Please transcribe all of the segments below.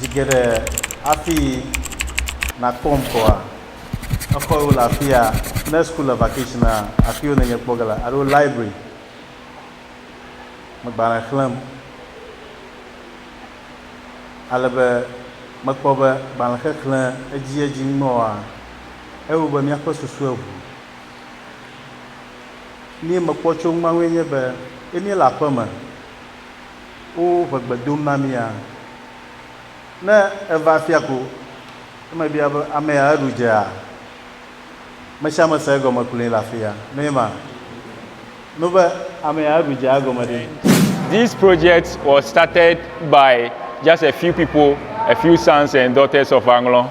Zi geɖe hafi nàkpɔm koa, exɔ yiwo le afi ya, ne school le vacationea, afi yiwo nènye kpɔ ge le alo library me gbalẽ xlẽm. Ale be mekpɔ be gbalẽ xexlẽ edziedzi ŋumewoa, ewo be míaƒe susu eŋu. Nuyi mekpɔ tso eŋu ma ŋue nye be, ne míele aƒeme, wo ŋe gbe dom na mía. Ne eva afia ko, ne mebia be, Ame ya eɖu dzea? Ame sia ame sea egɔme kloe le afia. Mee ma nu be, Ame ya eɖu dzea egɔme ɖe? This project was started by just a few people, a few sons and daughters of Anglong.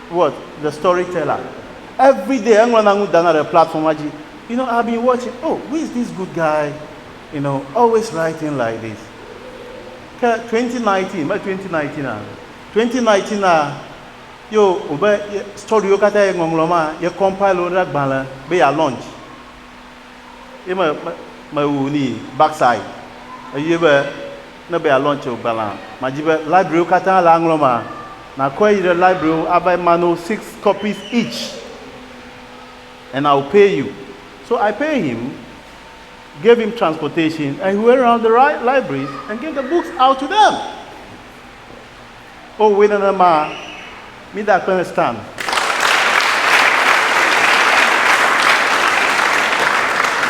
What? The storyteller everyday eŋlɔna nu dana ɖe platforma dzi you know I've been watching oh who is this good guy you know always writing like this ke 2019 me 2019 a 2019 a yo wobe storywo katã ye ŋɔŋlɔ ma ye compile wo ɖe agbalẽ be ya launch Ye me, me, mewu ni backside. Eyɔe be, ne be yealɔ̃tsi wò gbalẽa, madi be librarywo katã le aŋlɔ emea, nàkɔe yi ɖe librarywo ava ma no six copies each and I will pay you. So I pay him, gave him transportation and he went around the libraries and gave the books out to them. Owɔe nenema. Mide akpe ne Stan.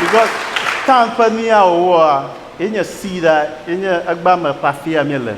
Because Stan ƒe nuya wòwɔa, ye nye seed a, ye nye egbea me ƒe afia míele.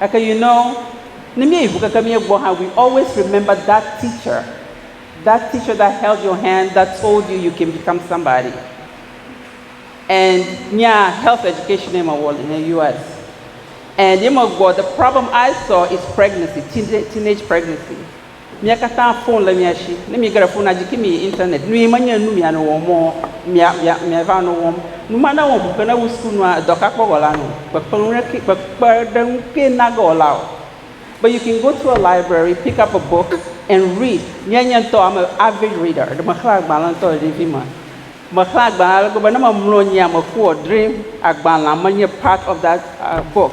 Gake you know, ne míeyi ŋu keke mía gbɔ hã, we always remember that teacher, that teacher that held your hand, that told you you can become somebody. And nya health education ye mewɔ le ne US. And ye megbɔ, the problem I saw is pregnancy, teenage pregnancy. Mia katã fon le mia shi. Ne miege ɖe fonua dzi ki miyi internet nui menye nu mianɔ wɔm mɔ mia mia miava nɔ wɔm. Nu ma newɔ ŋu ke ne wu suku nua edɔ ka kpɔ wɔla nɔ kpekpeŋu ɖe ki kpekpeɖeŋu ke nage wɔla o. But you can go to a library pick up a book and read. Nye nye ŋutɔ am a avid reader ɖe mexlẽ agbalẽ ŋutɔ le ɖevi me. Mexlẽ agbalẽ ale gbegbe ne memlɔ anyi a mekua dream agbalẽa menye part of that book.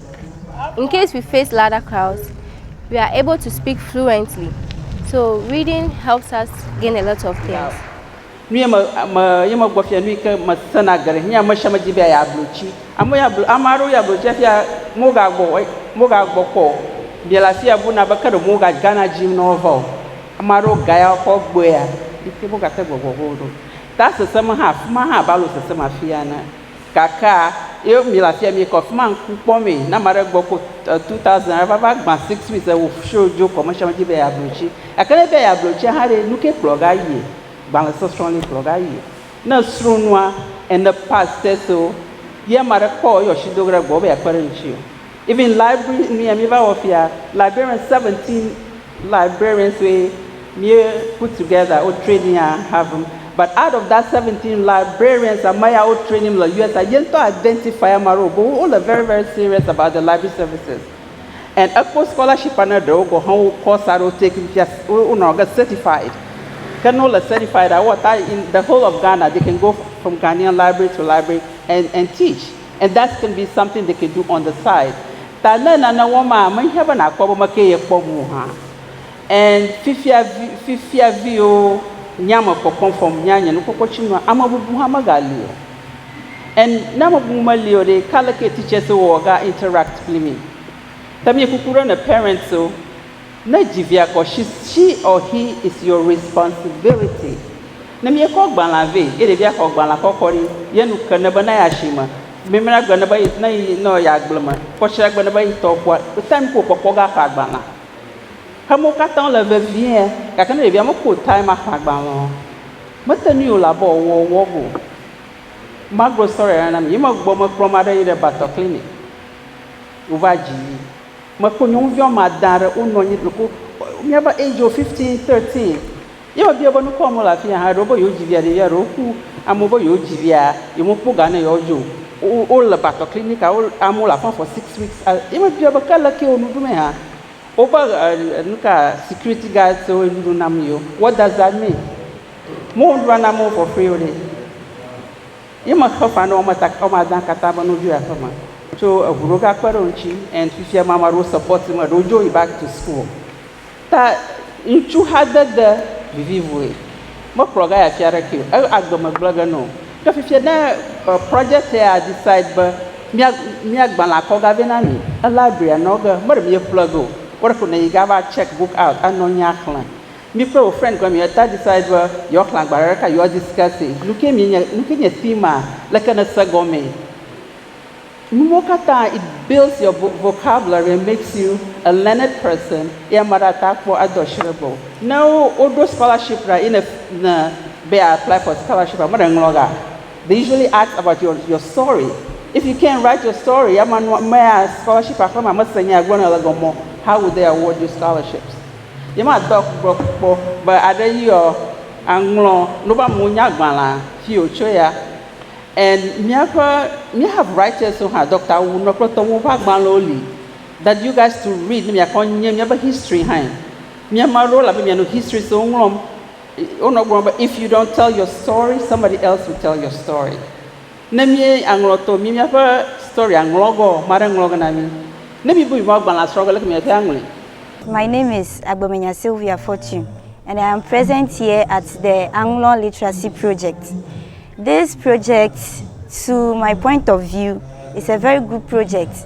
In case we face louder crowds, we are able to speak fluently. So reading helps us gain a lot of things. Nu ye me me ye me gbɔ fia nu yi ke me sena geɖe. Nye ame sia me di be ya blo tsi. Ame ya blo ame aɖewo ya blo tsi fia mo ga gbɔ mo ga gbɔ kpɔ. Mia le afi ya bu na be ke ɖe mo ga ga na dzi nɔ va o. Ame aɖewo ga ya kɔ gbɔe ya yi ke mo ga te gbɔ gbɔ go ɖo. Ta sese me hã afi ma hã balo sese me afi ya ne. Kaka ye mi le afia mi kɔ fima ŋku kpɔ mee na ma ɖe gbɔ ko two thousand ɖe va va gba six weeks ewo show dzo commercial me dzi be ya blo tsi gake ne be ya blo tsi hã ɖe nuke kplɔ ga yie gbalẽ sɔsrɔ li kplɔ ga yie ne sro nua and the past test wo ye ma ɖe kpɔ ye ɔsi do ge ɖe gbɔ wo be ya kpe ɖe ŋtsi o. Even library nuya mi va wɔ fia, librarian 17 librarians we mi put together wo training a Harvard but out of that 17 librarians ame ya wo training le US a ye ŋutɔ identify ame aɖewo bo wo le very very serious about the library services and ekpɔ scholarship ne ɖewo go hã wo course aɖewo take fia wo nɔ ge certified ke ne wo le certified a wo ata in the whole of Ghana they can go from Ghanaian library to library and and teach. And that can be something they can do on the side. Ta ne nane wɔm maa, mehiã be nàkpɔ be mekee yekpɔ ŋu o hã. And fifia vi, fifia viwo nya me kpɔkpɔm fɔm nya nye nukpɔkpɔtsinua, ame bubu hã megali o. And ne ame bubu meli o ɖe, ka leke teachers wɔ ga interact kpli mi? Ta mie kuku ɖe ne parents o. Ne dzi via kɔ she she or he is your responsibility. Ne míekɔ gbalẽa vɛ ye ɖevia xɔ gbalẽa kɔkɔ ɖi ye nu ke ne be na yi asime, mimla gbe ne be ne yi nɔ yi agble me, kɔtsra gbe ne be yi tɔ kua, time ke wòkpɔkpɔ ga ƒã gbalẽa. Xemewo katã wole vevie gake ne ɖevia mekpɔ time aƒã gbalẽa o, mese nu yi wòle abe wòawɔ wòawɔ go o. Magblɔ story aɖe na mi. Yi megbe me kplɔ ma ɖe yi ɖe Batɔ Clinic. Wova dzi yi. Mekpɔ nyɔnuvi woame ade aɖe wonɔ anyi le ku míaƒe age wo fifteen thirteen ye mebia be nukɔ wɔm wole afi ya hã eɖewo be yewo dzi via ɖevia ɖewo ku amewo be yewo dzi via ye mekpɔ ga ne yewoa dzo o wole batɔ clinic a amewo le afi ma for six weeks ye mebia be ke leke wo nu ɖum hã woƒe nuka security guard siwo le nuɖuɖu nam yewo what does that mean? Mewo nuɖuɖua nam wo for free o ɖe. Ye mexɔ ƒã ne woame ta woame adã katã be no dzo yi aƒe me tso eŋu ɖewo ga kpe ɖe wo ŋuti and fifia ma ame aɖewo support me ɖewo dzo yi back to school ta ŋutsu xa dede vivi vue me kplɔ ga yi afi aɖeke o e agbe me gblẽ ge no ke fifia ne project ya decide be mia mia gbalẽ akɔ ga vɛ na mi e library anɔ ge me ɖe mia ƒle ge o wo ɖe ko ne yi ga va check book out anɔ anyi axlẽ. Mi kple wò friend kple mi ta decide be yewoa xlẽ agbalẽ ɖeka yewoa discuss e. Nuke mi nye, nuke nye theme a, leke ne se gɔme. Nuwo katã it builds your vocabulary and makes you a learned person ye ame aɖe ate akpɔ ado asi ɖe gbɔwò. Ne woɖo scholarship ɖa ye ne ne be ya apply for scholarship a, ame ɖe ŋlɔ ga. They usually ask about your your story. If you can write your story, ye ame nua, amea scholarship a xlẽ ma ame se nya ye agblɔ nɛ le gɔme o, how would they award you scholarships. Yemadɔ gbe kpɔ be aɖe yí ɔ, aŋlɔ nubamunyagbalẽa fi wòtso ya. And míaƒe, mí have writers wo hã, Doctor Wunɔ kple tɔwo ƒe agbalẽwo li that you guys to read ne miakpɔ nye míaƒe history hãe. Mía ame aɖewo le abe mia nu history siwo ŋlɔm. Wonɔ gblɔm be if you don't tell your story, somebody else will tell your story. Ne mí aŋlɔ tɔ mí míaƒe story a ŋlɔ gɔ ame aɖe ŋlɔ ge na mí. Ne mí bu mí be agbalẽ a srɔ ge leke mía te aŋlɔe. My name is Agbemenya Sylvia Fortune and I am present here at the Aŋlɔ Literacy Project. This project to my point of view is a very good project.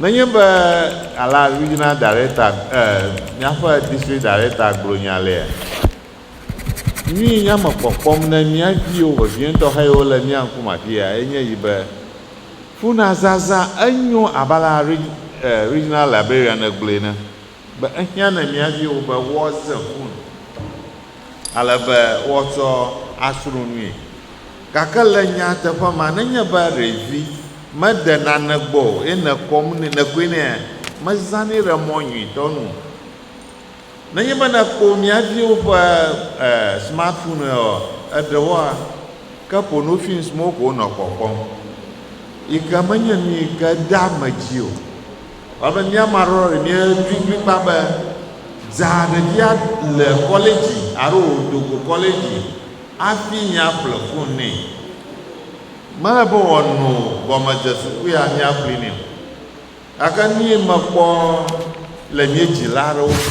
Nenye be alea regional director eh, míaƒe district director gblɔ nya lea, nyui nya me kpɔkpɔm ne mía viwo vevietɔ heyiwo le mía ŋkume afia enye yi be, ƒuna zazã enyo abe alea eh, regional librarian gblɔe ne. Be ehiã ne mia viwo be woaze fu nu ale be woatsɔ asro nui. Gake le nyateƒe mea, nenye be ɖevi mede nane gbɔ o ye nèkɔm nɛ, nèkɔe nɛa, mezãnɛ ɖe mɔ nyuitɔ nu o. Nenye be nèkpɔ mia viwo ƒe smartphonewoa, eɖewoa, ke porno films mawo ko wonɔ kpɔkpɔm, yi ke menye nu yi ke dea ame dzi o. Elabe mía Marɔri míedi kplikpaa be dza ɖevia le kɔledzi alo wòdo go kɔledzi hafi míaƒle fun nɛ. Mele be wòano gɔmedzesukui míaƒli nɛ o. Gake nui mekpɔ le míedzila aɖewo si.